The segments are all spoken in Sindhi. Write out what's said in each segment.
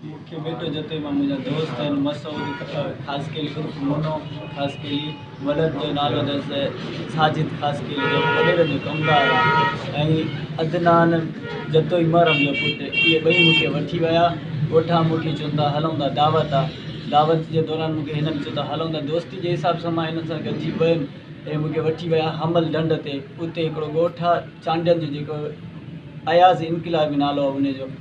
مون کي ٻيٽو جتي مان منهنجا دوست آهن مسعود خاصخيلي عرف منو خاصخيلي ولد جو نالو اٿس ساجد خاصخيلي جو ولير جو ڪمدار آهي ۽ عدنان جتوئي محرم جو پٽ اهي ٻئي مون کي وٺي ويا ڳوٺان مون کي چون ٿا هلون ٿا دعوت آهي دعوت جي دوران مون کي هنن چيو ته هلون ٿا دوستي جي حساب سان مان هنن سان گڏجي ويم اهي مون کي وٺي ويا حمل ڍنڍ تي اتي هڪڙو ڳوٺ آهي چانڊيل جو جيڪو اياز انقلابي نالو آهي ان جو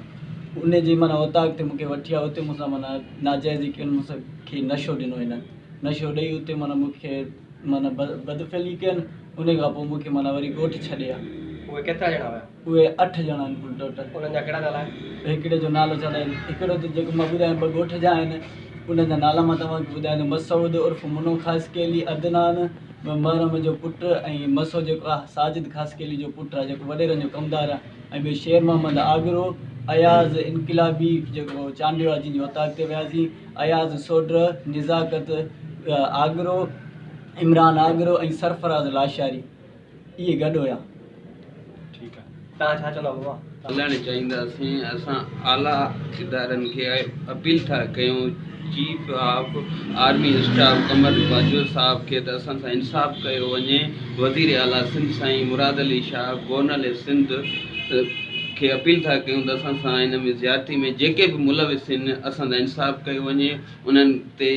انهن جي معنيٰ اوطاق تي مون کي وٺي آيو اتي مون سان معنيٰ ناجائزي ڪيون مون سان کي نشو ڏنو هنن نشو ڏئي اتي معنيٰ مون کي معنيٰ بدفعلي ڪين انهي کان پوء مون کي معنيٰ وري ڳوٺ ڇڏي آيا. اهي ڪيترا ڄڻا هيا؟ اهي اٺ ڄڻا آهن ڪل ٽوٽل. انهن جا ڪهڙا نالا آهن؟ هڪڙي جو نالو ڇا ته هڪڙو ته جيڪو مان ٻڌايو ٻه ڳوٺ جا آهن انهن جا نالا مان توهان کي ٻڌايان ٿو مسعود عرف منو خاصخيلي عدنان محرم جو پٽ ۽ مسو جيڪو آهي ساجد خاصخيلي جو پٽ آهي جيڪو وڏيرن جو ڪمدار آهي ۽ ٻيو شير محمد آگرو، اياز انقلابي جيڪو چانڊيو آهي جنهن جي اوطاق تي وياسين، اياز سوڍر، نزاڪت آگرو، عمران آگرو ۽ سرفراز لاشاري اهي گڏ هيا. هلڻ چاهينداسين، اسان اعليٰ ادارن کي اپيل ٿا ڪيون. Chief of army staff Qamar Bajwa صاحب کي ته اسان سان انصاف ڪيو وڃي، وزير اعليٰ سنڌ سائين مراد علي شاهه گورنل سنڌ کي اپيل ٿا ڪيون ته اسان سان ان ۾ زيادتي ۾ جيڪي به ملوث آهن اسان سان انصاف ڪيو وڃي انهن تي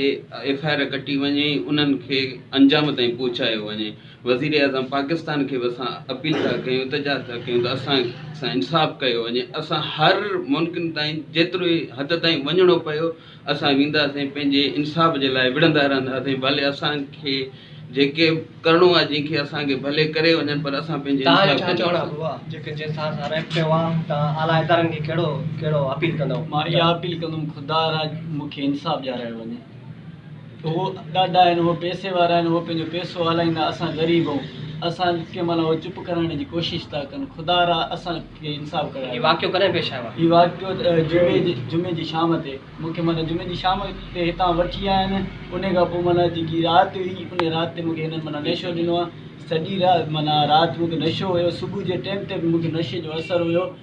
ايف آء آر ڪٽي وڃي انهن کي انجام تائين پهچايو وڃي. وزيراعظم پاڪستان کي به اسان اپيل ٿا ڪيون التجا ٿا ڪيون ته اسان سان انصاف ڪيو وڃي اسان هر ممڪن تائين جيتري حد تائين وڃڻو پيو اسان وينداسين پنهنجي انصاف جي لاء وڙهندا رهنداسين ڀلي اسان کي جيڪي ڪرڻو آهي جنهن کي اسان کي ڀلي ڪري وڃن پر اسان پنهنجي انصاف ڪنداسين هو ڏاڍا آهن، هو پئسي وارا آهن، هو پنهنجو پئسو هلائيندا، اسان غريب آهون. اسان کي ڪنهن مهل اهو چپ ڪرائڻ جي ڪوشش ٿا ڪن. خدا را اسان کي انصاف ڪرايو. هي واقعو ڪڏهن پيش آيو آهي؟ هي واقعو جمعي جي جمعي جي شام تي مون کي معنيٰ جمعي جي شام تي هتان وٺي آيا آهن. انهي کان پوء معنيٰ جيڪي رات هئي انهي رات تي مون کي هنن معنيٰ نشو ڏنو آهي. سڄي رات معنيٰ رات مون کي نشو هيو. صبح جي ٽيم تي به مون کي نشي جو اثر هيو.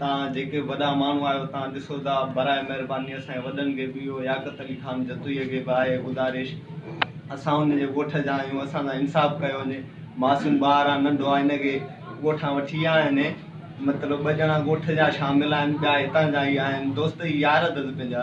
تان جيڪي وڏا ماڻهو آهيو تان ڏسو ٿا براء مهرباني اسان جي وڏن کي به اهو ياقت علي خان جتوئي کي به آهي گذارش اسان ان جي ڳوٺ جا آهيون اسان سان انصاف ڪيو وڃي معصوم ٻار آهي ننڍو آهي ان کي ڳوٺان وٺي ويا آهن مطلب ٻه ڄڻا ڳوٺ جا شامل آهن ٻيا هتان جا ئي آهن دوست يار اٿس پنهنجا